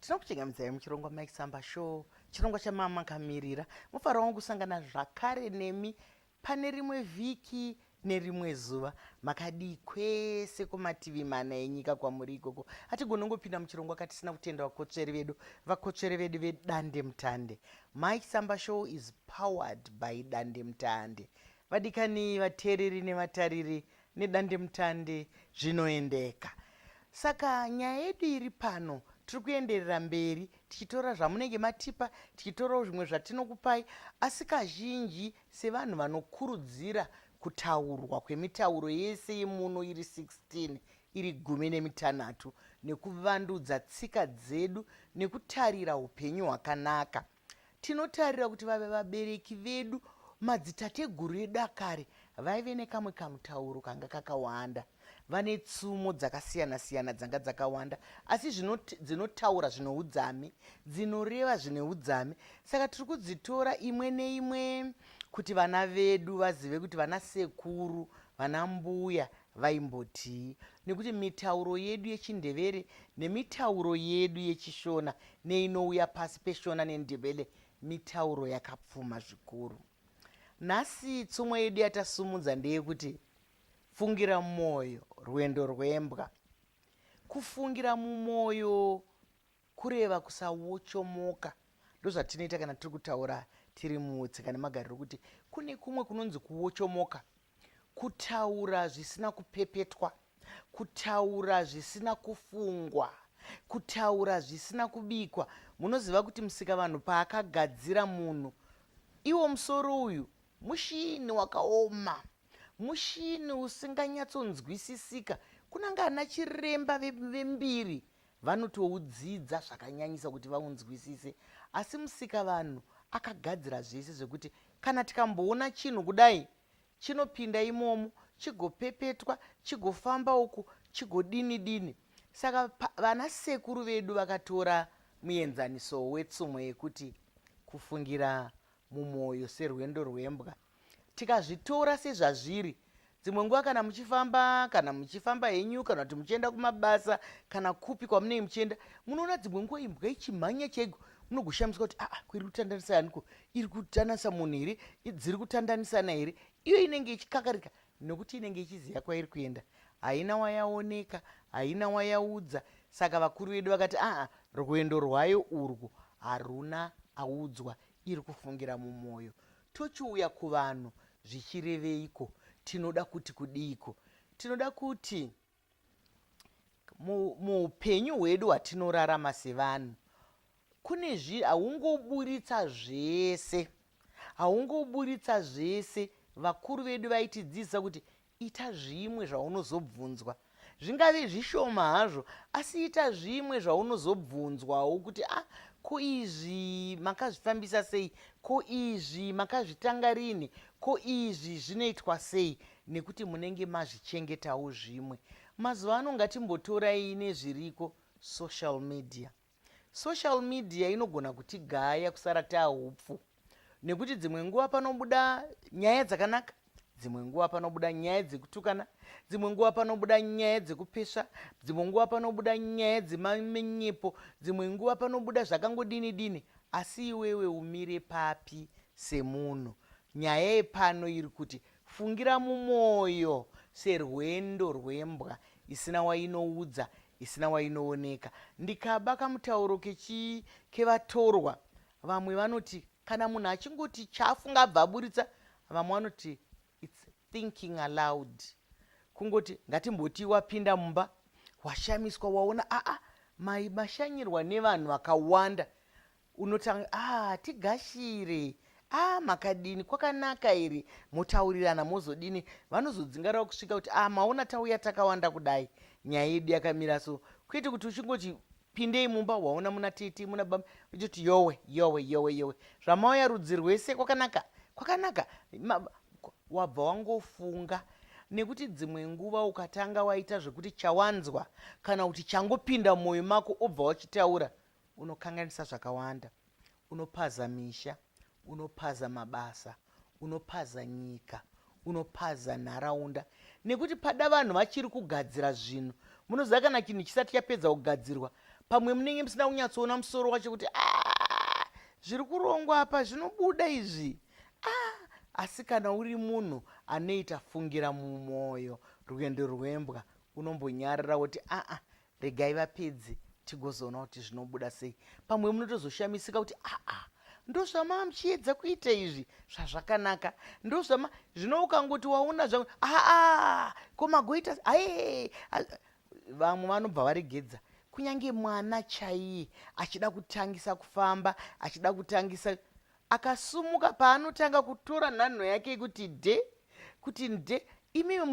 tinokuchengamidzai muchirongwa mike samba show chirongwa chamama kamirira mufaro wangu kusangana zvakare nemi pane rimwe vhiki nerimwe zuva makadii kwese kumativi mana enyika kwamuri ikoko hatigoni ungopinda muchirongwa katisina kutenda vakotsveri vedu vakotsveri vedu vedande mutande mike samba show is powered by dande mutande Vadikani vateereri nevatariri nedandemutande zvinoendeka. Saka nyaya yedu iri pano tiri kuenderera mberi tichitora zvamunenge matipa tichitorawo zvimwe zvatinokupai asi kazhinji sevanhu vanokurudzira kutaurwa kwemitauro yese yemuno iri 16 iri gumi nemitanhatu nekuvandudza tsika dzedu nekutarira upenyu hwakanaka Tinotarira kuti vave vabereki vedu, madzitateguru edu akare, vaive nekamwe kamutauro kanga kakawanda. Vane tsumo dzakasiyana-siyana dzanga dzakawanda, asi zvino dzinotaura zvine udzame, dzinoreva zvine udzame. Saka tiri kudzitora imwe neimwe kuti vana vedu vazive kuti vana sekuru, vana mbuya, Vaimbotii? Nekuti mitauro yedu yechiNdebele nemitauro yedu yechiShona neinouya pasi peShona neNdebele mitauro yakapfuma zvikuru. Nhasi tsumo yedu yatasumudza ndeyekuti fungira mwoyo rwendo rwembwa. Kufungira mumwoyo kureva kusawochomoka. Ndozvatinoita kana tiri kutaura tiri mutsika nemagariro kuti kune kumwe kunonzi kuwochomoka. Kutaura zvisina kupepetwa. Kutaura zvisina kufungwa. Kutaura zvisina kubikwa. Munoziva kuti Musikavanhu paakagadzira munhu, iwo musoro uyu mushini wakaoma, mushini usinganyatsonzwisisika. Kunanga ana chiremba ve- vembiri vanotoudzidza zvakanyanyisa kuti vaunzwisise. Asi Musikavanhu akagadzira zvese zvekuti Kana tikamboona chinhu kudai chinopinda imomo chigopepetwa chigofamba uku chigodini dini. Saka vana sekuru vedu vakatora muenzaniso wetsumo yekuti kufungira mumwoyo serwendo rwembwa. Tikazvitora sezvazviri dzimwe nguva kana muchifamba kana muchifamba henyu kana kuti muchienda kumabasa kana kupi kwamunenge muchienda munoona dzimwe nguva imbwa ichimhanya chaiko munogoshamiswa kuti aa ah, iri kutandanisa yaniko iri kutandanisa munhu here dziri kutandanisana here iyo inenge ichikakarika nokuti inenge ichiziva kwairi kuenda haina wayaoneka haina wayaudza saka vakuru vedu vakati aa ah, ah, rwendo rwayo urwu haruna audzwa Iri kufungira mumoyo. Tochiuya kuvanhu zvichireveiko? Tinoda kuti kudiiko? Tinoda kuti muupenyu mu hwedu hwatinorarama sevanhu kune zvi haungoburitsa zvese haungoburitsa zvese vakuru vedu vaitidzidzisa kuti Ita zvimwe zvaunozobvunzwa. Zvingave zvishoma hazvo, asi ita zvimwe zvaunozobvunzwawo kuti a ko izvi makazvifambisa sei, ko izvi makazvitanga rini, ko izvi zvinoitwa sei, nekuti munenge mazvichengetawo zvimwe. Mazuva ano ngatimbotorai nezviriko social media. Social media inogona kutigaya kusara tahupfu nekuti dzimwe nguva panobuda nyaya dzakanaka dzimwe nguva panobuda nyaya dzekutukana dzimwe nguva panobuda nyaya dzekupesva dzimwe nguva panobuda nyaya dzemamenyepo dzimwe nguva panobuda zvakangodini dini asi iwewe umire papi semunhu nyaya yepano iri kuti Fungira mumwoyo serwendo rwembwa isina wainoudza, isina wainooneka. Ndikaba kamutauro kechii kevatorwa. Vamwe vanoti kana munhu achingoti chaafunga abva aburitsa, vamwe vanoti its thinking aloud. Kungoti ngatimboti wapinda mumba, washamiswa waona aa mai mashanyirwa nevanhu vakawanda, Unotanga ah tigashire ah makadini kwakanaka iri motaurirana mozodini vanozodzingarawo kusvika kuti ah maona tauya takawanda kudai nyaya yedu yakamira so kwete kuti uchingoti pindei mumba waona muna tete muna baba uchiti yowe yowe yowe yowe zvamauya rudzi rwese kwakanaka kwakanaka wabva wangofunga nekuti dzimwe nguva ukatanga waita zvekuti chawanzwa kana kuti changopinda mumwoyo mako obva wachitaura unokanganisa zvakawanda unopaza misha unopaza mabasa unopaza nyika unopaza nharaunda nekuti pada vanhu vachiri kugadzira zvinhu munoziva kana chinhu chisati chapedza kugadzirwa pamwe munenge musina kunyatsoona musoro wacho kuti ah, zviri kurongwa apa zvinobuda izvi ah, asi kana uri munhu anoita fungira mumwoyo rwendo rwembwa unombonyarira woti aa ah, regai vapedze tigozoona kuti zvinobuda sei pamwe munotozoshamisika kuti aa ndozvamaa muchiedza kuita izvi zvazvakanaka ndozvama zvino ukangoti waona zva aa ko magoita ae vamwe vanobva varegedza kunyange mwana chaiye achida kutangisa kufamba achida kutangisa akasumuka paanotanga kutora nhanho yake kuti de kuti nde imimi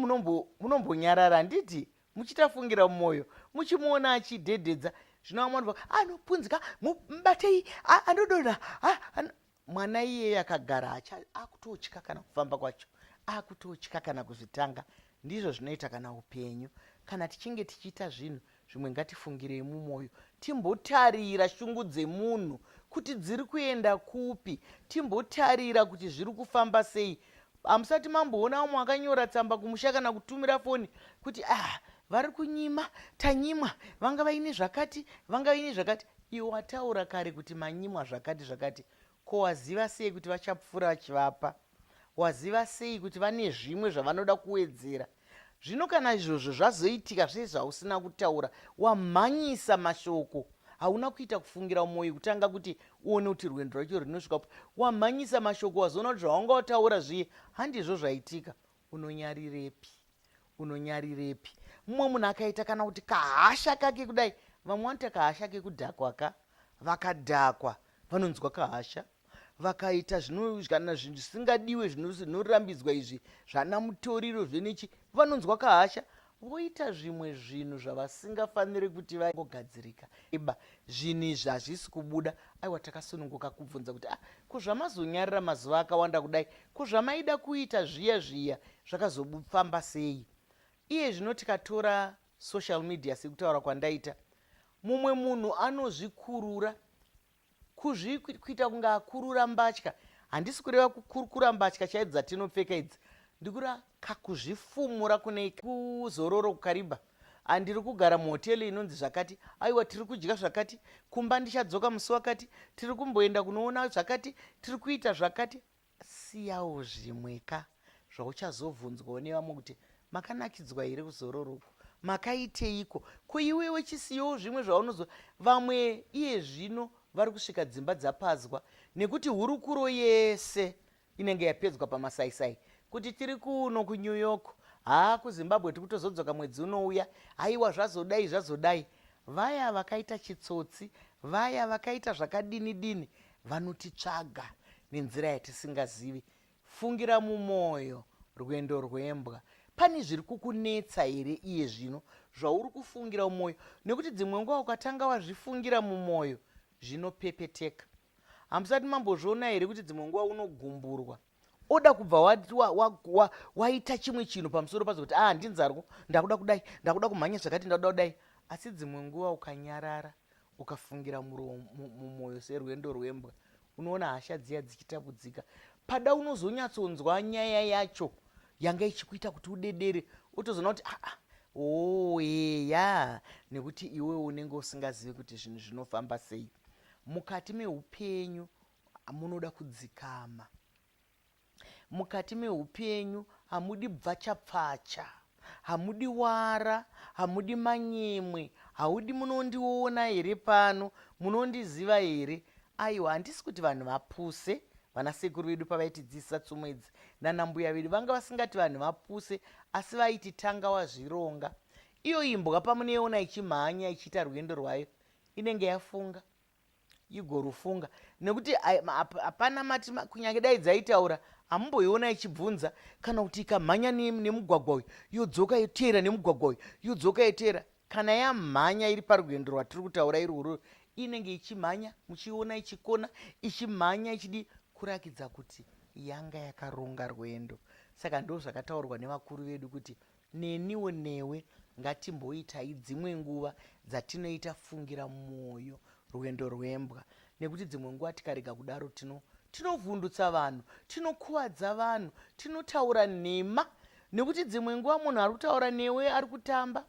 munombonyarara handiti muchitafungira mumwoyo muchimuona achidhedhedza zvino vamwe vanobva anopunzika mubatei anodonha mwana iyeye akagara akutotya kana kufamba kwacho akutotya kana kuzvitanga ndizvo zvinoita kana upenyu kana tichinge tichiita zvinhu zvimwe ngatifungirei mumwoyo timbotarira shungu dzemunhu kuti dziri kuenda kupi timbotarira kuti zviri kufamba sei Hamusati mamboona vamwe vakanyora tsamba kumusha kana kutumira foni kuti ah vari kunyima tanyimwa vanga vaine zvakati vanga vaine zvakati iwe wataura kare kuti manyimwa zvakati zvakati ko waziva sei kuti vachapfuura vachivapa waziva sei kuti vane zvimwe zvavanoda kuwedzera Zvino kana izvozvo zvazoitika zvese zvausina kutaura, wamhanyisa mashoko, hauna kuita kufungira mumwoyo kutanga kuti uone kuti rwendo rwacho rinosvika kupi. Wamhanyisa mashoko, wazoona kuti zvawanga wataura zviye handizvo zvaitika. Unonyarirepi? Unonyarirepi? Mumwe munhu akaita kana kuti kahasha kake kudai, vamwe vanoita kahasha kekudhakwa ka, vakadhakwa vanonzwa kahasha. vakaita kana zvinhu zvisingadiwe zvinorambidzwa izvi zvana mutoriro zvenechi vanonzwa kahasha voita zvimwe zvinhu zvavasingafaniri kuti vagogadzirika iba zvinhu izvi hazvisi kubuda aiwa takasununguka kubvunza kuti ah ko zvamazonyarira mazuva akawanda kudai ko zvamaida kuita zviya zviya zvakazofamba sei iye zvino tikatora social media sekutaura kwandaita mumwe munhu anozvikurura Kuzvi kuita kunge akurura mbatya. Handisi kureva kukurukura mbatya chaidzo dzatinopfeka idzi. Ndikura kakuzvifumura kune kuzororo kukariba. Ah, ndiri kugara muhoteli inonzi zvakati aiwa tiri kudya zvakati kumba ndichadzoka musi wakati tiri kumboenda kunoona zvakati tiri kuita zvakati Siyawo zvimwe ka zvauchazobvunzwawo nevamwe kuti makanakidzwa here kuzororo uku makaiteiko ko iwewe chisiyawo zvimwe zvaunozo vamwe iye zvino vari kusvika dzimba dzapadzwa nekuti hurukuro yese inenge yapedzwa pamasaisai kuti tiri kuno kunew york haa kuzimbabwe tiri kutozodzoka mwedzi unouya haiwa zvazodai zvazodai vaya vakaita chitsotsi vaya vakaita zvakadini dini vanotitsvaga nenzira yatisingazivi fungira mumwoyo rwendo rwembwa pane zviri kukunetsa here iye zvino zvauri kufungira mumwoyo nekuti dzimwe nguva ukatanga wazvifungira mumwoyo zvinopepeteka hamusati mambozviona here kuti dzimwe nguva unogumburwa oda kubva waita wa, wa, wa, wa chimwe chinhu pamusoro pazo kuti ah ndinzarwo ndakuda kudai ndakuda kumhanya zvakati ndakuda kudai asi dzimwe nguva ukanyarara ukafungira mumwoyo serwendo rwembwa unoona hasha dziya dzichitapudzika pada unozonyatsonzwa nyaya yacho yanga ichikuita kuti udedere otozoona kuti aa ah, ah, oo oh, eya nekuti iwe unenge usingazivi kuti zvinhu zvinofamba sei mukati meupenyu Munoda kudzikama mukati mehupenyu, hamudi bvachapfacha, hamudi wara, hamudi manyemwe, haudi munondiona here pano, munondiziva here? Aiwa, handisi kuti vanhu vapuse vana sekuru vedu pavaitidzidzisa tsumo idzi nana mbuya vedu vanga vasingati vanhu vapuse asi vaiti tanga wazvironga iyo imbwa pamunoiona ichimhanya ichiita rwendo rwayo inenge yafunga igorufunga nekuti hapana mati kunyange dai dzaitaura hamumboiona ichibvunza kana kuti ikamhanya nemugwagwa uyu yodzoka yoteera nemugwagwa uyu yodzoka yoteera kana yamhanya iri parwendo rwatiri kutaura irworwo inenge ichimhanya muchiona ichikona ichimhanya ichidi kurakidza kuti yanga yakaronga rwendo saka ndo zvakataurwa nevakuru vedu kuti Neniwo newe ngatimboitai dzimwe nguva dzatinoita fungira mwoyo rwendo rwembwa nekuti dzimwe nguva tikarega kudaro tino tinovhundutsa vanhu tinokuvadza vanhu tinotaura nhema nekuti dzimwe nguva munhu ari kutaura newe ari kutamba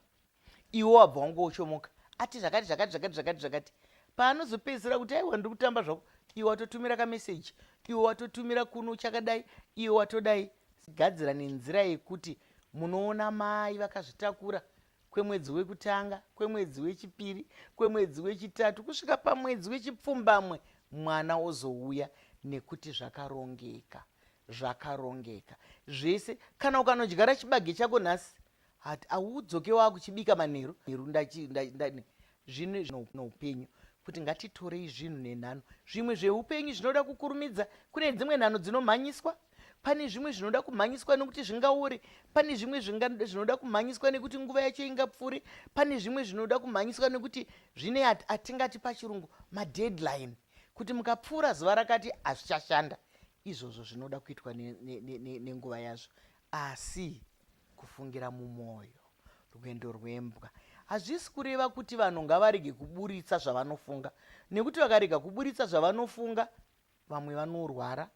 iwe wabva wangoochomoka ati zvakati zvakati zvakati zvakati zvakati paanozopedzisira kuti aiwa ndiri kutamba zvako iwe watotumira kameseji iwe watotumira kuno chakadai iwe watodai Sigadzira nenzira yekuti munoona mai vakazvitakura kwemwedzi wekutanga kwemwedzi wechipiri kwemwedzi wechitatu kusvika pamwedzi wechipfumbamwe mwana ozouya nekuti zvakarongeka zvakarongeka zvese kana ukanodyara chibage chako nhasi hati audzoke wava kuchibika manheru nheru zvinhu zvinoupenyu kuti ngatitorei zvinhu nenhano zvimwe zveupenyu zvinoda kukurumidza kune dzimwe nhano dzinomhanyiswa pane zvimwe zvinoda kumhanyiswa nekuti zvingauri pane zvimwe zvinoda kumhanyiswa nekuti nguva yacho ingapfuure pane zvimwe zvinoda kumhanyiswa nekuti zvine atingati pachirungu madeadline kuti mukapfuura zuva rakati hazvichashanda izvozvo zvinoda kuitwa nenguva ne, ne, ne yazvo Asi, kufungira mumwoyo, rwendo rwembwa, hazvisi kureva kuti vanhu ngavarege kuburitsa zvavanofunga, nekuti vakarega kuburitsa zvavanofunga, vamwe vanorwara,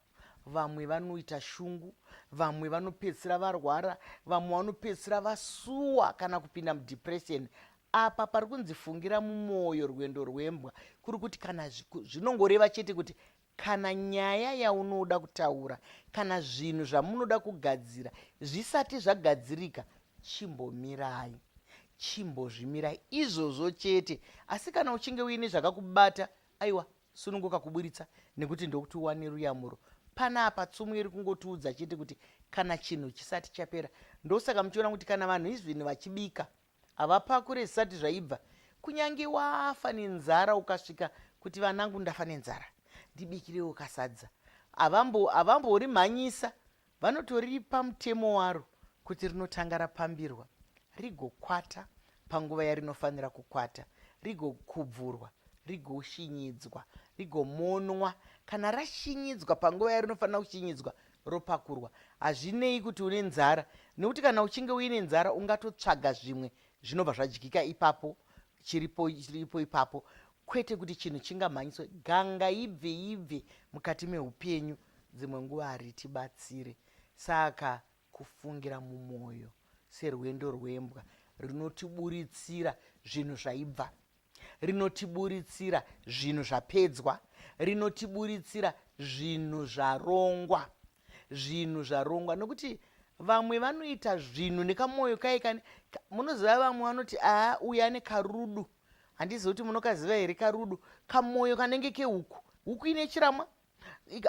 vamwe vanoita shungu, vamwe vanopedzisira varwara, vamwe vanopedzisira vasuwa kana kupinda mudepression. Apa pari kunzi fungira mumwoyo rwendo rwembwa, kuri kuti kana zvinongoreva chete kuti Kana nyaya yaunoda kutaura kana zvinhu zvamunoda kugadzira zvisati zvagadzirika, chimbomirai. Chimbozvimirai izvozvo chete. Asi kana uchinge uine zvakakubata, aiwa, sununguka kuburitsa nekuti ndokuti uwane ruyamuro. Panapa tsumo iri kungotiudza chete kuti kana chinhu chisati chapera. Ndosaka muchiona kuti kana vanhu izvini vachibika, Havapakure zvisati zvaibva. Kunyange wafa nenzara ukasvika kuti vanangu ndafa nenzara ndibikirewo kasadza. Havambo, havamborimhanyisa. Vanotoripa mutemo waro kuti rinotanga rapambirwa, rigokwata panguva yarinofanira kukwata, rigokubvurwa, rigoshinyidzwa, rigomonwa. Kana rashinyidzwa panguva yarinofanira kushinyidzwa, ropakurwa hazvinei kuti une nzara nekuti kana uchinge uine nzara ungatotsvaga zvimwe zvinobva zvadyika ipapo chiripo chiripo ipapo kwete kuti chinhu chingamhanyiswe ganga ibve ibve mukati meupenyu dzimwe nguva haritibatsire saka kufungira mumwoyo serwendo rwembwa rinotiburitsira zvinhu zvaibva rinotiburitsira zvinhu zvapedzwa rinotiburitsira zvinhu zvarongwa zvinhu zvarongwa nokuti vamwe vanoita zvinhu nekamwoyo kai kani munoziva vamwe vanoti aa uyu ane karudu handizivi kuti munokaziva here karudu kamwoyo kanenge kehuku huku ine chiramwa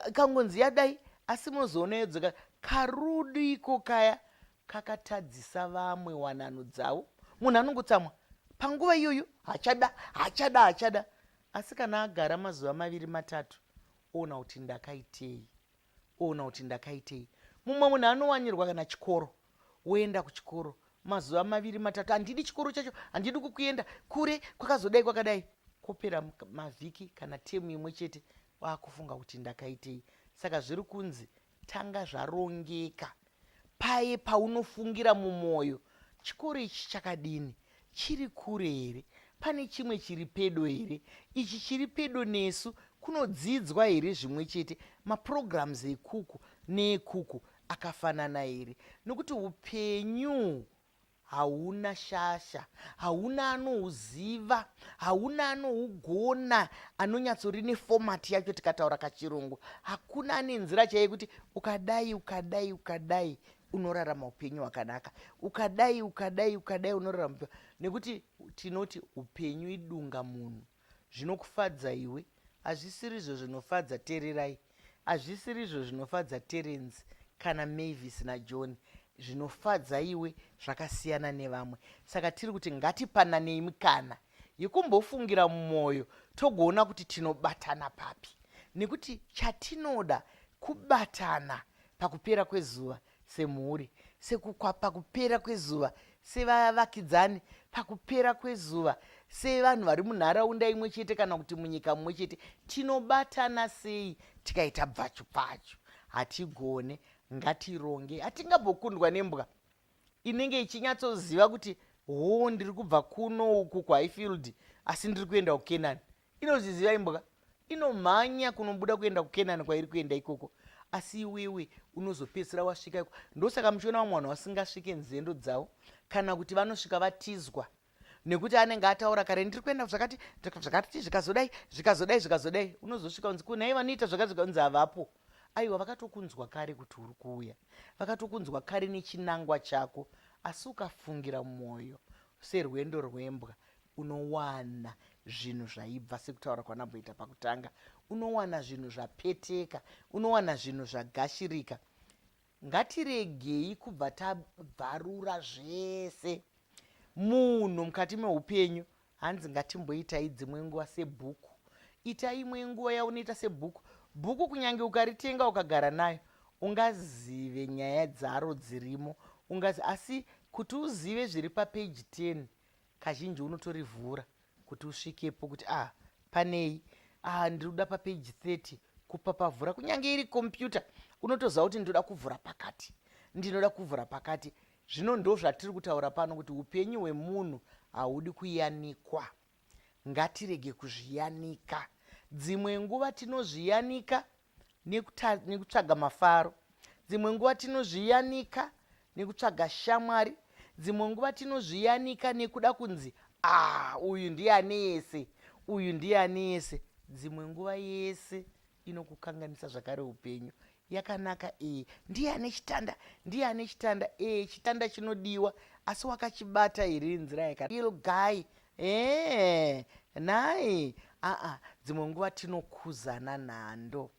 ikangonzi yadai asi mozoona yodzoka karudo iko kaya kakatadzisa vamwe wanano dzavo munhu anongotsamwa panguva iyoyo hachada hachada hachada asi kana agara mazuva maviri matatu oona kuti ndakaitei oona kuti ndakaitei mumwe munhu anowanirwa kana chikoro woenda kuchikoro mazuva maviri matatu handidi chikoro chacho handidi kukuenda kure kwakazodai kwakadai kwopera mavhiki kana temu imwe chete waakufunga kuti ndakaitei saka zviri kunzi tanga zvarongeka paye paunofungira mumwoyo chikoro ichi chakadini chiri kure here pane chimwe chiri pedo here ichi chiri pedo nesu kunodzidzwa here zvimwe chete maprograms ekuku neekuku akafanana here nokuti upenyu hauna shasha hauna anouziva hauna anougona anonyatsori nefomati yacho tikataura kachirungu hakuna ane nzira chaiye kuti ukadai ukadai ukadai unorarama upenyu hwakanaka ukadai ukadai ukadai unorarama upenyu nekuti tinoti upenyu idunga munhu zvinokufadza iwe hazvisirizvo zvinofadza tererai hazvisirizvo zvinofadza terence kana mavis najohn zvinofadza iwe zvakasiyana nevamwe saka tiri kuti ngatipananei mukana yekumbofungira mumwoyo togoona kuti tinobatana papi nekuti chatinoda kubatana pakupera kwezuva semhuri sekukwa pakupera kwezuva sevavakidzani pakupera kwezuva sevanhu vari munharaunda imwe chete kana kuti munyika mumwe chete tinobatana sei tikaita bvachu pfachu hatigone ngatironge hatingambokundwa nembwa inenge ichinyatsoziva kuti hoo ndiri kubva kuno uku kuhighfield asi ndiri kuenda kukenani inozviziva imbwa inomhanya kunobuda kuenda kukenani kwairi kuenda ikoko asi iwewe unozopedzisira wasvika iko ndosaka muchiona vamwe vanhu vasingasvike nzendo dzavo kana kuti vanosvika vatizwa nekuti anenge ataura kare ndiri kuenda zvakati zvakati zvikazodai zvikazodai zvikazodai unozosvika unzi kunhai vanoita zvakati zvikanzi havapo aiwa vakatokunzwa kare kuti uri kuuya vakatokunzwa kare nechinangwa chako asi ukafungira mwoyo serwendo rwembwa unowana zvinhu zvaibva sekutaura kwanamboita pakutanga unowana zvinhu zvapeteka unowana zvinhu zvagashirika ngatiregei kubva tabvarura zvese munhu mukati meupenyu hanzi ngatimboitai dzimwe nguva sebhuku ita imwe nguva yaunoita sebhuku bhuku kunyange ukaritenga ukagara nayo ungazive nyaya dzaro dzirimo ungazi asi kuti uzive zviri papeji 10 kazhinji unotorivhura kuti usvikepo kuti ah panei ah ndiri kuda papage 30 kupapavhura kunyange iri kompyuta unotoziva kuti ndinoda kuvhura pakati ndinoda kuvhura pakati zvino ndo zvatiri kutaura pano kuti upenyu hwemunhu haudi kuyanikwa ngatirege kuzviyanika dzimwe nguva tinozviyanika nekutsvaga mafaro dzimwe nguva tinozviyanika nekutsvaga shamwari dzimwe nguva tinozviyanika nekuda kunzi ah uyu ndiye ane yese uyu ndiye ane yese dzimwe nguva yese inokukanganisa zvakare upenyu yakanaka iyi ndiye ane chitanda ndiye ane chitanda ee chitanda chinodiwa asi wakachibata here nzira yakail guy Eeh nhai aa dzimwe nguva tinokuzana nhando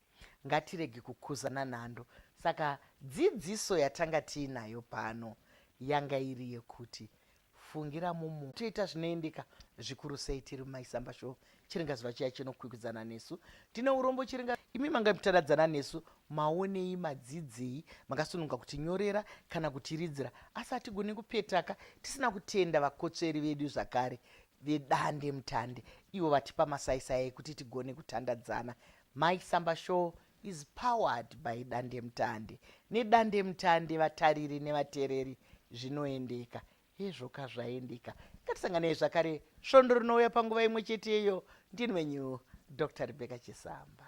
ngatirege kukuzana nhando saka dzidziso yatanga tiinayo pano yanga iri yekuti fungira mumu toita zvinoendeka zvikuru sei tiri mumaisamba show chiringazuva chiya chinokwikwidzana nesu tine urombo chiringa imi manga mutadadzana nesu maonei madzidzei makasununga kuti nyorera kana kuti ridzira asi hatigoni kupetaka tisina kutenda vakotsveri vedu zvakare vedande mutande ivo vatipa masaisai ekuti tigone kutandadzana mai samba show is powered by dande mutande nedande mutande vatariri nevatereri zvinoendeka Hezvo ka zvaendeka. Ngatisanganei zvakare svondo rinouya panguva imwe chete iyo. Ndini wenyu Dr. Rebecca Chisamba.